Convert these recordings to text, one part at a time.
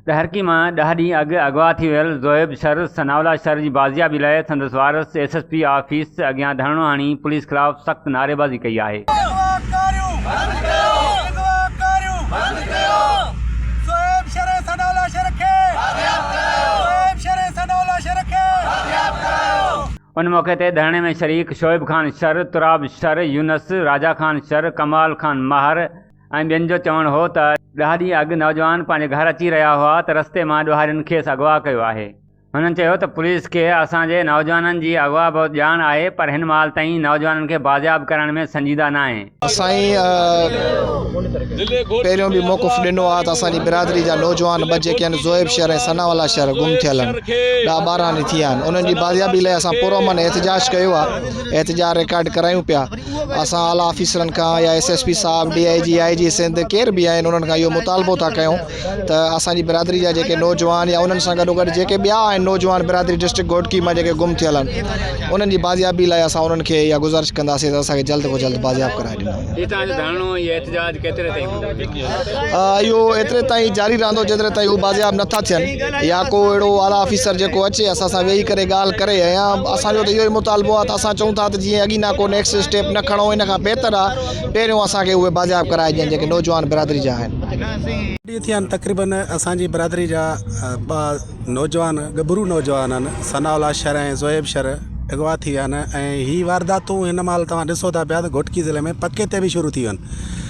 ڏهرڪي مان ڏهه ڏينهن اڳ اغوا ٿي ويل زوئب شر ثناءالله شر جي بازيابي لاء سندس وارث ايس ايس پي آفيس اڳيان ڌرڻو هڻي پوليس خلاف سخت نعريبازي ڪئي آهي. اغوا ڪاريون بند ڪيو. اغوا ڪاريون بند ڪيو. زوئب شر ثناءالله شر کي بازياب ڪرايو. زوئب شر ثناءالله شر کي بازياب ڪرايو. ان موقعي تي ڌرڻي ۾ شريڪ شعيب خان شر، تراب شر، يونس، راجا خان شر، ڪمال خان ماهر، ۽ ٻين جو چوڻ هو ته ڏهه ڏينهن اڳ نوجوان پنهنجي گهر اچي رهيا هئا ته رستي مان ڏوهارين کيس اغوا ڪيو آهي. هنن چيو ته پوليس کي اسان جي نوجوانن جي اغوا بابت ڄاڻ آهي پر هن مهال تائين نوجوانن کي بازياب ڪرڻ ۾ سنجيده ناهي. اسان پهريون به موقف ڏنو آهي ته اسان جي برادري جا نوجوان ٻه جيڪي هن زوئب شهر ۽ ثنا والله شهر گم ٿيل آهن ڏهه ٻارهن ڏينهن ٿي ويا آهن انهن جي بازيابي لاء اسان پرامن احتجاج ڪيو آهي احتجاج رڪارڊ ڪرايون پيا. اسان اعليٰ آفيسرن کان يا ايس ايس پي صاحب، D I G, I G Sindh ڪير به آهن انهن کان اهو مطالبو ٿا ڪيون ته اسان جي برادري جا جيڪي نوجوان يا انهن سان گڏوگڏ جيڪي ٻيا آهن نوجوان برادري ڊسٽرڪٽ گهوٽڪي مان جيڪي گم ٿيل آهن انهن جي بازيابي لاء اسان انهن کي اها گذارش ڪنداسين ته اسان کي جلد کان جلد بازياب ڪرائي ڏنو وڃن. اهو ايتري تائين جاري رهندو جيتري تائين هو بازياب نه ٿا ٿين يا ڪو اهڙو اعليٰ آفيسر جيڪو اچي اسان سان ويهي ڪري ڳالهه ڪري يا اسان جو ته اهو ئي مطالبو آهي ته اسان چئون ٿا ته جيئن اڳينا ڪو نيڪسٽ اسٽيپ نه کڻو ان کان بهتر آهي پهريون اسان کي اهي بازياب ڪرائي ڏين جيڪي نوجوان برادري جا آهن. ڏينهن ٿيا آهن تقريبن اسان جي برادري جا ٻه نوجوان ڳڀرو نوجوان آهن ثناء الله شر ۽ زوئيب شر اغوا ٿي ويا آهن ۽ هي وارداتون هن مهل توهان ڏسو ٿا پيا ته گهوٽڪي ضلعي ۾ پڪي تي به شروع ٿي ويون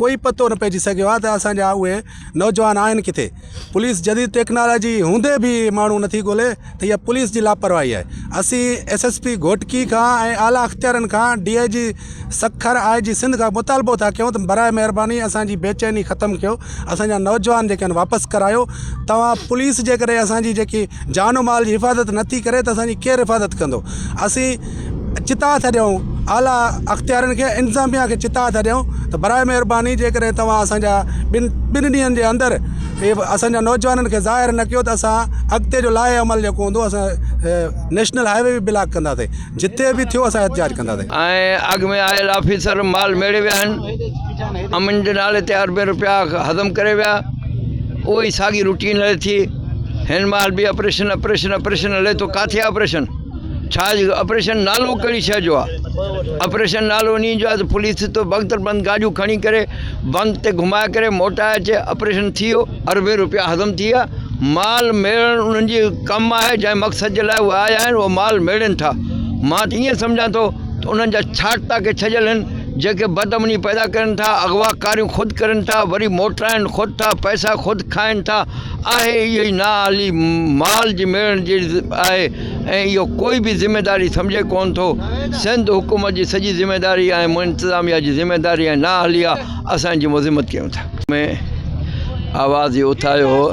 ڪوئي پتو نه پئجي سگهيو آهي ته اسان جا اهي نوجوان آهن ڪٿي. پوليس جديد ٽيڪنالاجي هوندي به ماڻهو نٿي ڳولي ته اها پوليس جي لاپرواهي آهي. اسين ايس ايس پي گهوٽڪي کان ۽ اعليٰ اختيارين کان ڊي آء جي سکر، آء جي سنڌ کان مطالبو ٿا ڪيون ته برائي مهرباني اسان جي بي چيني ختم ڪيو، اسان جا نوجوان جيڪي آهن واپس ڪرايو. توهان پوليس جيڪڏهن اسان جي جيڪي جان و مال جي حفاظت نٿي ڪري ته اسان جي ڪير حفاظت ڪندو. اسين. چتاء ٿا ڏيون اعليٰ اختيارين کي انتظاميا کي چتاء ٿا ڏيون ته برائي مهرباني جي ڪڏهن تواان اسانجا ٻن ٻن ڏينهن جي اندر ڪي به اسانجا نوجوانن کي ظاهر نه ڪيو ته اسان اڳتي جو لائحه عمل جيڪو هوندو اسان نيشنل هاء وي به بلاڪ ڪنداسي جتي به ٿيو اسان احتجاج ڪنداسي ۽ اڳ ۾ آيل آفيسر مال ميڙي ويا آهن امن جي نالي تي اربين روپيا هضم ڪري ويا اهو ئي ساڳي روٽين هلي ٿي هن مهل به آپريشن آپريشن آپريشن هلي ٿو ڪاٿي آپريشن ڇا آپريشن نالو ڪهڙي شئي جو آ آپريشن نالو انهي جو آ ته پوليس تو بنڪ بند گاڏيون کڻي ڪري بنڪ تي گهمائي ڪري موٽائي اچي آپريشن ٿي ويو اربين روپيا هضم ٿي ويا مال ميڙڻ انهن جي ڪم آهي جنهن مقصد جي لاء اهي آيا آهن اهو مال ميڙين ٿا مان ته ائين سمجهان ٿو ته انهن جا ڇاٽتا ڪي ڇڄيل آهن جيڪي بد امني پيدا ڪرين ٿا اغوا ڪاريون خود ڪرين ٿا وري موٽرائين خود ٿا پئسا خود کائين ٿا آهي اهي ئي نااهلي مال جي ميڙڻ جي آهي ۽ اهو ڪوئي به ذميواري سمجهي ڪونه ٿو، سنڌ حڪومت جي سڄي ذميواري آهي ۽ انتظاميا جي ذميواري ۽ نااهلي آهي اسان جي مذمت ڪيون ٿا. ۾ آواز هي اٿايو هو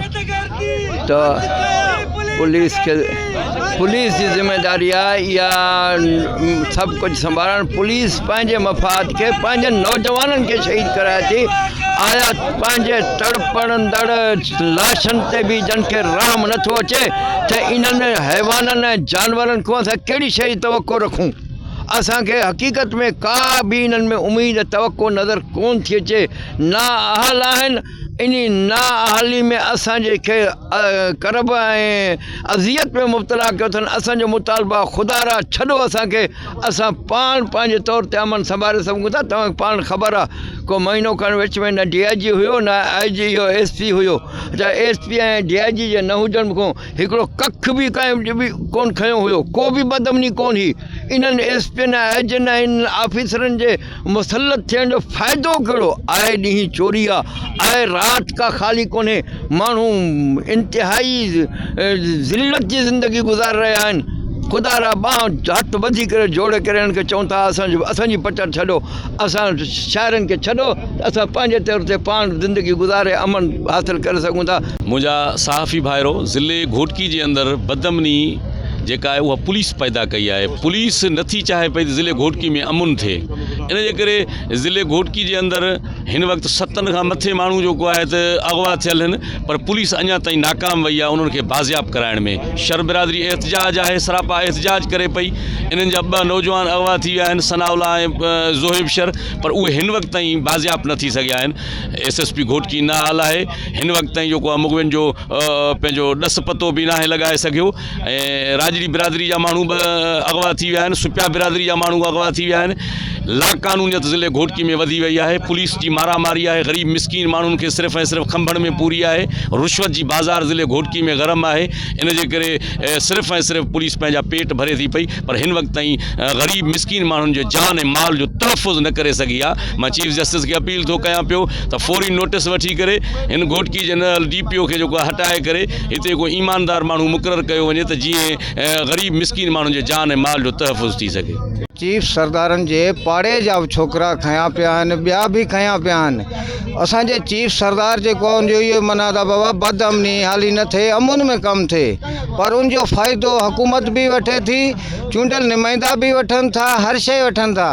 ته پوليس کي پوليس جي ذميواري آهي اها سڀ ڪجهه سنڀالڻ پوليس پنهنجي مفاد کي پنهنجن نوجوانن کي شهيد ڪرائي ٿي آيا پنهنجي تڙپندڙ لاشن تي به جن کي رحم نٿو اچي ته انهن حيوانن ۽ جانورن کان اسان ڪهڙي شيء جي توقع رکون؟ اسان کي حقيقت ۾ ڪا به انهن ۾ اميد ۽ توقع نظر ڪونه ٿي اچي. نااهل آهن، انهي نااهلي ۾ اسان جي کي ڪرب ۽ اذيت ۾ مبتلا ڪيو اٿن. اسان جو مطالبو آهي خدا را ڇڏو اسان کي. اسان پاڻ پنهنجي طور تي امن سنڀالي سگهون ٿا توهان کي پاڻ خبر آ ڪو مهينو کن وچ ۾ نه ڊي آء جي هيو نه آء جي هيو ايس پي هيو اچا S P ۽ D I G جي نه هجڻ کون هڪڙو ڪک به ڪنهن ڪون کنيو هيو ڪو به بدامني ڪون هئي انهن ايس پين ۽ آء جين ۽ آفيسرن جي مسلط ٿيڻ جو فائدو ڪهڙو؟ آء ڏينهن چوري آ، آء رات ڪا خالي ڪونهي، ماڻهو انتهائي ذلت جي زندگي گذاري رهيا آهن، خدا را ٻانهن هٿ ٻڌي ڪري جوڙي ڪري انهن کي چئون ٿا ته اسان جي پچر ڇڏو، اسان شاعرن کي ڇڏو ته اسان پنهنجي طور تي پاڻ زندگي گذاري امن حاصل ڪري سگهون ٿا. منهنجا صحافي ڀائرو! ضلعي گهوٽڪي جي اندر بدامني جيڪا آهي اها پوليس پيدا ڪئي آهي پوليس نٿي چاهي پئي ته ضلعي گهوٽڪي ۾ امن ٿئي ان جي ڪري ضلعي گهوٽڪي جي اندر هن وقت ستن کان مٿي ماڻهو جيڪو آهي ته اغوا ٿيل آهن پر پوليس اڃا تائين ناڪام وئي آهي انهن کي بازياب ڪرائڻ ۾ شر برادري احتجاج آهي سراپا احتجاج ڪري پئي انهن جا ٻه نوجوان اغوا ٿي ويا آهن ثناء الله ۽ زوهيب شر پر اهي هن وقت تائين بازياب نه ٿي سگهيا آهن ايس ايس پي گهوٽڪي نااهل آهي هن وقت تائين جو ڪو امغوين جو پنهنجو ڏس پتو به ناهي لڳائي سگهيو ۽ راڄڙي برادري جا ماڻهو به اغوا ٿي ويا آهن سپيا برادري جا ماڻهو اغوا ٿي ويا آهن لاقانونيت ضلعي گهوٽڪي ۾ وڌي وئي آهي پوليس جي مارا ماري آهي غريب مسڪين ماڻهن کي صرف ۽ صرف کنڀڻ ۾ پوري آهي رشوت جي بازار ضلعي گهوٽڪي ۾ گرم آهي ان جي ڪري صرف ۽ صرف پوليس پنهنجا پيٽ ڀري ٿي پئي پر هن وقت تائين غريب مسڪين ماڻهن جي جان ۽ مال جو تحفظ نه ڪري سگهي آ، مان چيف جسٽس کي اپيل ٿو ڪيان پيو ته فوري نوٽس وٺي ڪري هن گهوٽڪي جي ننهل ڊي پي او کي جيڪو آ هٽائي ڪري هتي ڪو ايماندار ماڻهو مقرر ڪيو وڃي ته جيئن غريب مسڪين ماڻهن جي جان ۽ مال جو تحفظ ٿي سگهي. چيف سردارن جي پاڙي جا به ڇوڪرا کنيا پيا آهن ٻيا به کنيا پيا آهن اسان جي چيف سردار جيڪو آ ان جو اهو ئي مناد آ بابا بد امني هالي نه ٿئي امن ۾ ڪم ٿئي پر ان جو فائدو حڪومت به وٺي ٿي چونڊيل نمائندا به وٺن ٿا هر شئي وٺن ٿا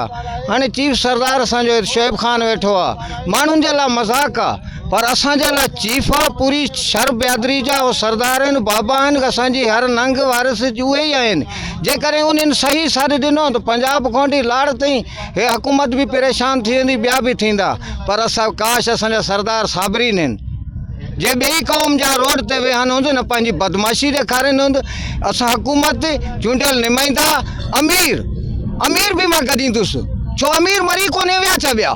هاڻي چيف سردار اسان جو شعيب خان ويٺو آ ماڻهن جي لا مذاق آ پر اسان جي لا چيف آ پوري شھر بيادري جا اهو سردار آهن بابا آهن اسان جي هر ننگ وارث اهي ئي آهن جيڪڏهن انهن صحيح ساٿ ڏنو ته پنجاب کان وٺي لاڙ تائين هي حڪومت به پريشان ٿي ويندي ٻيا به ٿيندا پر اسان ڪاش اسان جا سردار صابرين هن جي ٻئي قوم جا روڊ تي ويهن هوند نه پنهنجي بدمعاشي ڏيکارين هوند اسان حڪومت چونڊيل نمائندا امير امير به مان گڏيندس ڇو امير مري ڪونهي ويا ڇا ٻيا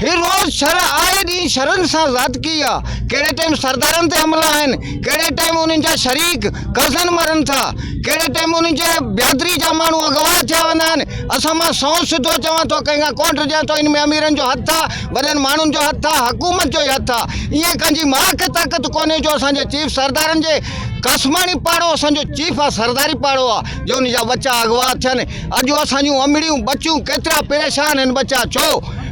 هي روز شھر آئي ڏينهن شھرن سان زيادتي آ ڪهڙي ٽائيم سردارن تي حملا آهن ڪهڙي ٽائيم انهن جا شريڪ ڪزن مرن ٿا ڪهڙي ٽائيم انهن جي بيادري جا ماڻهو اغوا ٿيا ويندا آهن اسان مان سئو سڌو چوان ٿو ڪنهن کان ڪونه ڊڄان ٿو ان ۾ اميرن جو هٿ آ وڏن ماڻهن جو هٿ آ حڪومت جو ئي هٿ آ ايئن ڪنهنجي ماء کي طاقت ڪونهي جو اسان جي چيف سردارن جي قاسماڻي پاڙو اسان جو چيف آ سرداري پاڙو آ جو ان جا ٻچا اغوا ٿين اڄ اسان جون امڙيون ٻچيون ڪيترا پريشان آهن ٻچا ڇو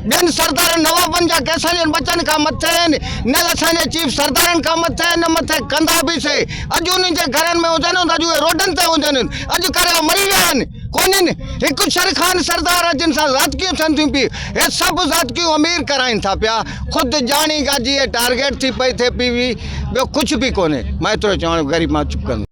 ٻين سردارن نوابن جا ڪي اسان جن ٻچن کان مٿي آهن نه اسان جي چيف سردارن کان مٿي آهن نه مٿي ڪندا به سي اڄ انهن جي گهرن ۾ هجن اڄ اهي روڊن تي هجن اڄ ڪريا مري ويا آهن ڪونهن، هڪ شر خان سردار ها جن سان زاتڪيون ٿين ٿيون پي، هي سڀ زاتڪيون امير ڪرائين ٿا پيا، خود ڄاڻي ڳاجهي هي ٽارگيٽ ٿي پئي ٿئي پي وي، ٻيو ڪجهه به ڪونهي، مان ايترو چوان غريب مان چپ ڪندو.